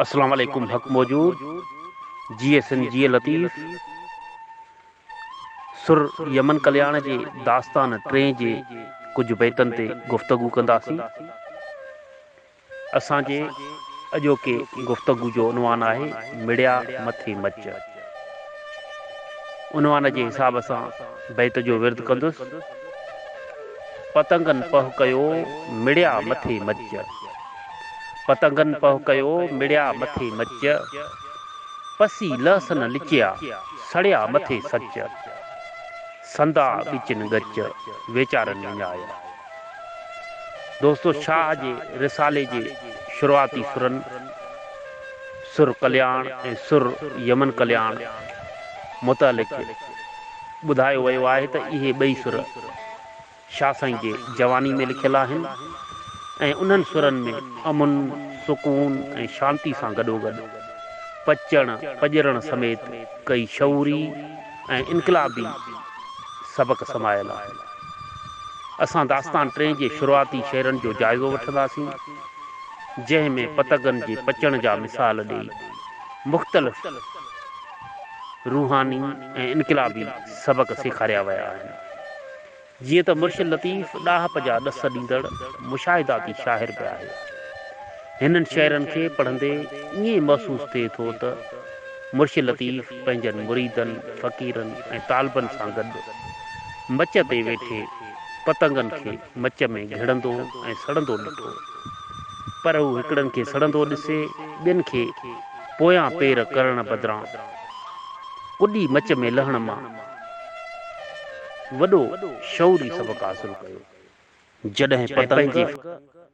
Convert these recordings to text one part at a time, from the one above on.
اسلام عليڪم حق موجود جي ايس اين جي لطيف سر يمن ڪلياڻ جي داستان ٽين جي ڪجهه بيتن تي گفتگو ڪنداسين اسان جي اڄوڪي گفتگو جو عنوان آهي مڙيا مٿي مچ عنوان جي حساب سان بيت جو ورد ڪندس پتنگن پهه ڪيو مڙيا مٿي مچ. پتنگن پهه ڪيو، مڙيا مٿي مچ، پسي لهسن لچيا، سڙيا مٿي سچ، سندا ڳچن ڳچ، ويچارن وڃايا. دوستو شاهه جي رسالي جي شروعاتي سرن، سر ڪلياڻ ۽ سر يمن ڪلياڻ، متعلق ٻڌايو ويو آهي ته اهي ٻئي سر، شاهه سائين جي جواني ۾ لکيل آهن ۽ انهن سرن ۾ امن، سڪون ۽ شانتي سان گڏوگڏ پچڻ، پڄرڻ سميت ڪئي شعوري ۽ انقلابي سبق سمايل آهن. اسان داستان ٽئين جي شروعاتي شعرن جو جائزو وٺنداسين، جنهن ۾ پتگن جي پچڻ جا مثال ڏئي مختلف روحاني ۽ انقلابي سبق سيکاريا ويا آهن. جيئن ته مرشد لطيف ڏاهپ جا ڏس ڏيندڙ مشاهداتي شاعر به آهي. هنن شعرن کي پڙهندي ائين محسوس ٿئي ٿو ته مرشد لطيف پنهنجن مريدن، فقيرن ۽ طالبن سان گڏ مچ تي ويٺي پتنگن کي مچ ۾ گهڙندو ۽ سڙندو ڏٺو. پر هو هڪڙن کي سڙندو ڏسي ٻين کي پويان پير ڪرڻ بدران ڪڏي مچ ۾ لهڻ مان وڏو شعوري سبق حاصل ڪيو، جڏهن پتنگ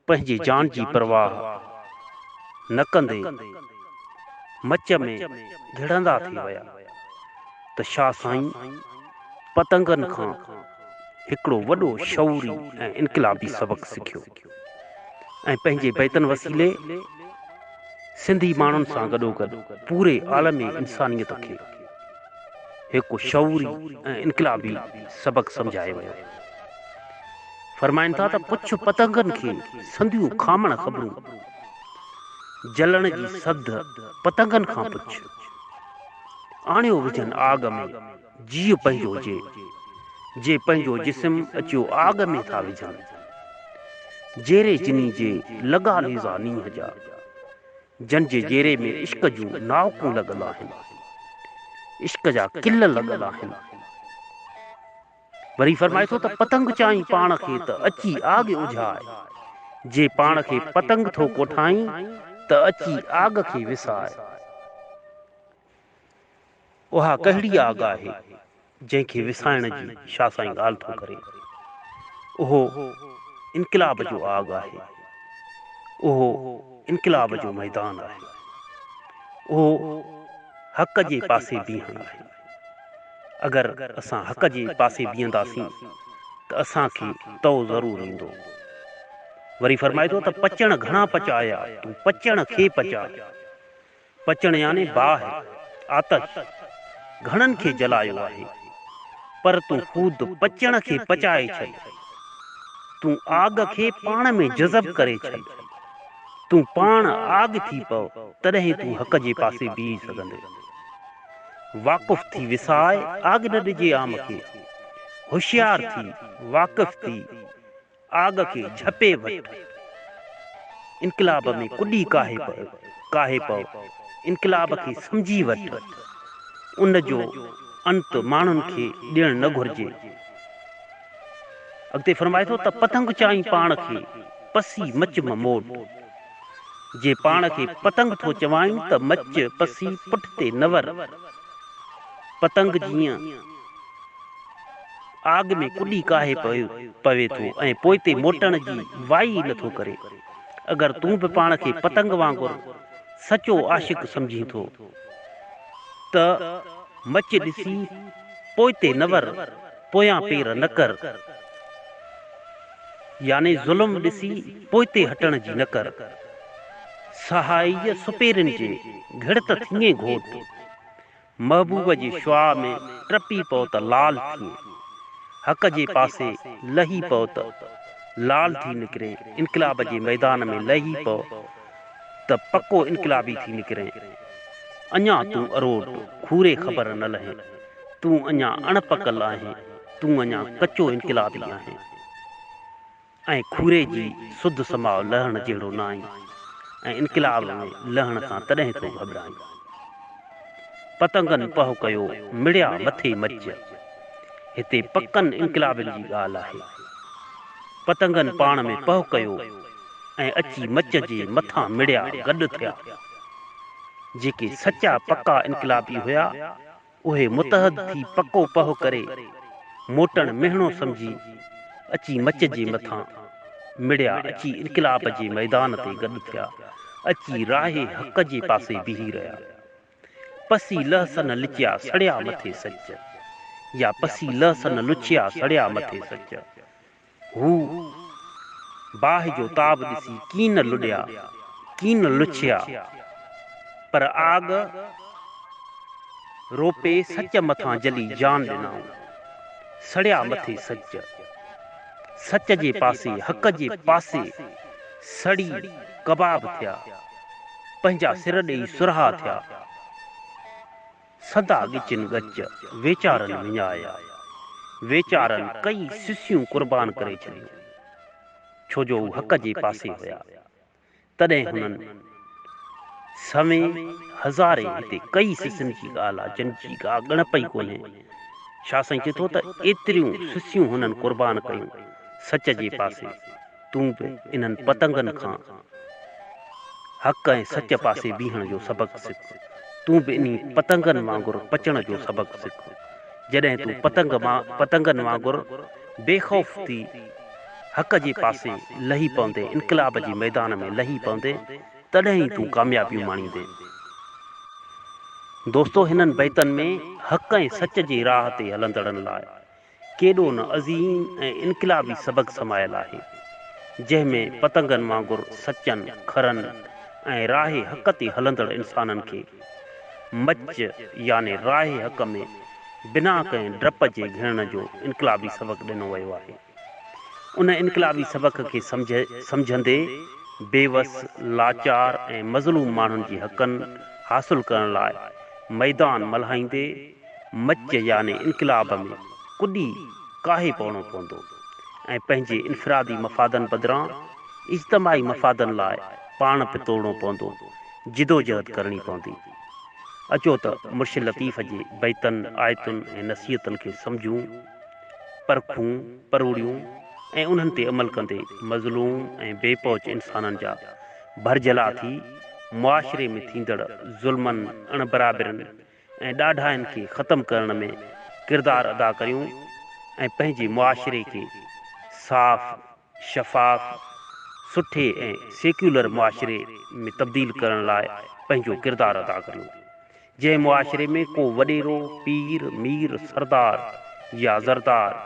پنهنجي جان جي پرواهه نه ڪندي مچ ۾ گهڙندا ٿي ويا ته شاهه سائين پتنگن کان هڪڙو وڏو شعوري ۽ انقلابي سبق سکيو ۽ پنهنجي بيتن وسيلي سنڌي ماڻهن سان گڏوگڏ پوري عالمي انسانيت کي هڪ شعوري ۽ انقلابي سبق سمجهايو ويو. فرمائن ٿا ته پڇ پتنگن کي سنديون کامڻ خبرون، جلڻ جي سڌ پتنگن کان پڇ، آڻيو وجهن آڳ ۾ جيء پنهنجو جي، جي پنهنجو جسم اچيو آڳ ۾ ٿا وجهن، جيري جني جي لڳا نيزا نينهن جا. جن جي جيري ۾ عشق جون ناوڪون لڳل آهن، عشق جا ڪل لڳل آهن. وري فرمائي ٿو ته پتنگ چائين پاڻ کي ته اچي آڳ اجهاء، جي پاڻ کي پتنگ ٿو ڪوٺائين ته اچي آڳ کي وساء. اها ڪهڙي آڳ آهي، جنهن کي وسائڻ جي شاهه سائين ڳالهه ٿو ڪري. اهو انقلاب جو آڳ آهي. اهو انقلاب جو ميدان آهي. اهو حق جي پاسي بيهڻ آهي. اگر اسان حق جي پاسي بيهنداسين ته اسان کي تئو ضرور ايندو. وري فرمائي ٿو ته پچڻ گهڻا پچايا، تون پچڻ کي پچاء. پچڻ يعني باهه، آتش، گهڻن کي جلايو آهي، پر تون خود پچڻ کي پچائي ڇڏ. تون آڳ کي پاڻ ۾ جذب ڪري ڇڏ. تون پاڻ آڳ ٿي پو، تڏهن تون حق جي پاسي بيهي سگهندين. واقف ٿي وسائي آڳ نه ڏجي عام کي. هوشيار ٿي، واقف ٿي. آڳ کي جهپي وٺ، انقلاب ۾ ڪڏي ڪاهي پئو، ڪاهي پئو، انقلاب کي سمجهي وٺ، ان جو انت ماڻهن کي ڏيڻ نه گهرجي. اڳتي فرمائي ٿو ته پتنگ چائين پاڻ کي، پسي مچ م موٽ. جي پاڻ کي پتنگ ٿو چوائين ته مچ پسي پٺتي نه ور. پتنگ جيئن. آگ ۾ ڪڏي ڪاهي پوي ٿو ۽ پوئتي موٽڻ جي وائي ئي نٿو ڪري. اگر تون به پاڻ کي پتنگ وانگر سچو عاشق سمجهين ٿو ته مچ ڏسي پوئتي نه ور، پويان پير نه ڪر يعني ظلم ڏسي پوئتي هٽڻ جي نه ڪر. سهائيء سپيرين جي گهڙت ٿڃين گهوٽ. محبوب جي شعاع ۾ ٽپي پئو ته لال ٿيئين، حق جي پاسي لهي پئو ته لال ٿي نڪرين، انقلاب جي ميدان ۾ لهي پئو ته پڪو انقلابي ٿي نڪرين، اڃا تون اروٽ کوري خبر نه لهين، تون اڃا اڻ پڪل آهين، تون اڃا ڪچو انقلابي آهين. ۽ کوري جي سڌ سماء لهڻ جهڙو نه آهين ۽ انقلاب ۾ لهڻ کان تڏهن ٿو گهٻرائين. پتنگن پهه ڪيو مڙيا مٿي مچ. هتي پڪن انقلابين جي ڳالهه آهي. پتنگن پاڻ ۾ پهه ڪيو ۽ اچي مچ جي مٿان مڙيا گڏ ٿيا. جيڪي سچا پڪا انقلابي هيا. اهي متحد ٿي پڪو پهه ڪري موٽڻ مهڻو سمجهي اچي مچ جي مٿان مڙيا، اچي انقلاب جي ميدان تي گڏ ٿيا، اچي راهه حق جي پاسي بيهي رهيا. پسي لئه سن لچيا سڙيا مٿي سچ يا پسي لئه سن لڇيا سڙيا مٿي سچ. هو باهه جو تاب ڏسي ڪين لڏيا، ڪين لڇيا، پر آڳ روپي سچ مٿان جلي جان ڏنائون. سڙيا مٿي سچ. سچ جي پاسي، حق جي پاسي سڙي ڪباب ٿيا. پنهنجا سر ڏيئي سرها ٿيا. سدا ڳچين ڳچ ويچارن وڃايا. ويچارن ڪيئي سسيون قربان ڪري ڇڏيون، ڇو جو هو حق جي پاسي هيا. تڏهن هنن سوين هزارين هتي ڪيئي سسين جي ڳالهه آ، جن جي ڪا ڳڻپ ئي ڪونهي. شاهه سائين چئي ٿو ته ايتريون سسيون هنن قربان ڪيون، سچ جي پاسي. تون به انهن پتنگن کان حق ۽ سچ پاسي بيهڻ جو سبق سک. تون به انهي پتنگن وانگر پچڻ جو سبق سک. جڏهن تون پتنگ مان پتنگن وانگر بي خوف ٿي حق جي پاسي لهي پوندين، انقلاب جي ميدان ۾ لهي پوندين، تڏهن ئي تون ڪاميابيون ماڻيندين. دوستو هنن بيتن ۾ حق ۽ سچ جي راهه تي هلندڙن لاء ڪيڏو نه عظيم ۽ انقلابي سبق سمايل آهي، جنهن ۾ پتنگن وانگر سچن، کرن ۽ راهه حق تي هلندڙ انسانن کي مچ يعني راهه حق ۾ بنا ڪنهن ڊپ جي گهڙڻ جو انقلابي سبق ڏنو ويو آهي. ان انقلابي سبق کي سمجهندي بيوس، لاچار ۽ مظلوم ماڻهن جي حقن حاصل ڪرڻ لاء ميدان ملهائيندي، مچ يعني انقلاب ۾ ڪڏي ڪاهي پوڻو پوندو ۽ پنهنجي انفرادي مفادن بدران اجتماعي مفادن لاء پاڻ به توڙڻو پوندو، جدوجهد ڪرڻي پوندي. اچو ته مرشد لطيف جي بيتن، آيتن ۽ نصيحتن کي سمجهون، پرکون، پروڙيون ۽ انهن تي عمل ڪندي مظلوم ۽ بي پهچ انسانن جا ڀرجهلا ٿي معاشري ۾ ٿيندڙ ظلمن، اڻبرابرين ۽ ڏاڍاين کي ختم ڪرڻ ۾ ڪردار ادا ڪريون ۽ پنهنجي معاشري کي صاف، شفاف، سٺي ۽ سيڪيولر معاشري ۾ تبديل ڪرڻ لاء پنهنجو ڪردار ادا ڪريون، جنهن معاشري ۾ ڪو وڏيرو، پير، مير، سردار يا زردار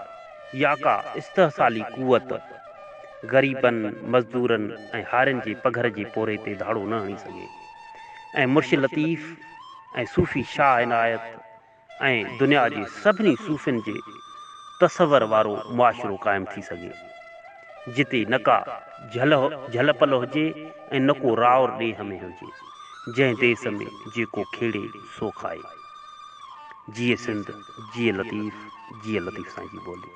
يا ڪا استحصالي قوت غريبن، مزدورن ۽ هارين جي پگهر جي پورهيي تي ڌاڙو نه هڻي سگهي ۽ مرشد لطيف، ۽ صوفي شاهه عنايت ۽ دنيا جي سڀني صوفين جي تصور وارو معاشرو قائم ٿي سگهي، جتي نه ڪا جهل پل هجي ۽ نه ڪو راور ڏيهه ۾ هجي، جنهن ديس ۾ جيڪو کيڙي سو کائي. جيئي سنڌ، جيئي لطيف، جيئي لطيف سائين جي ٻولي.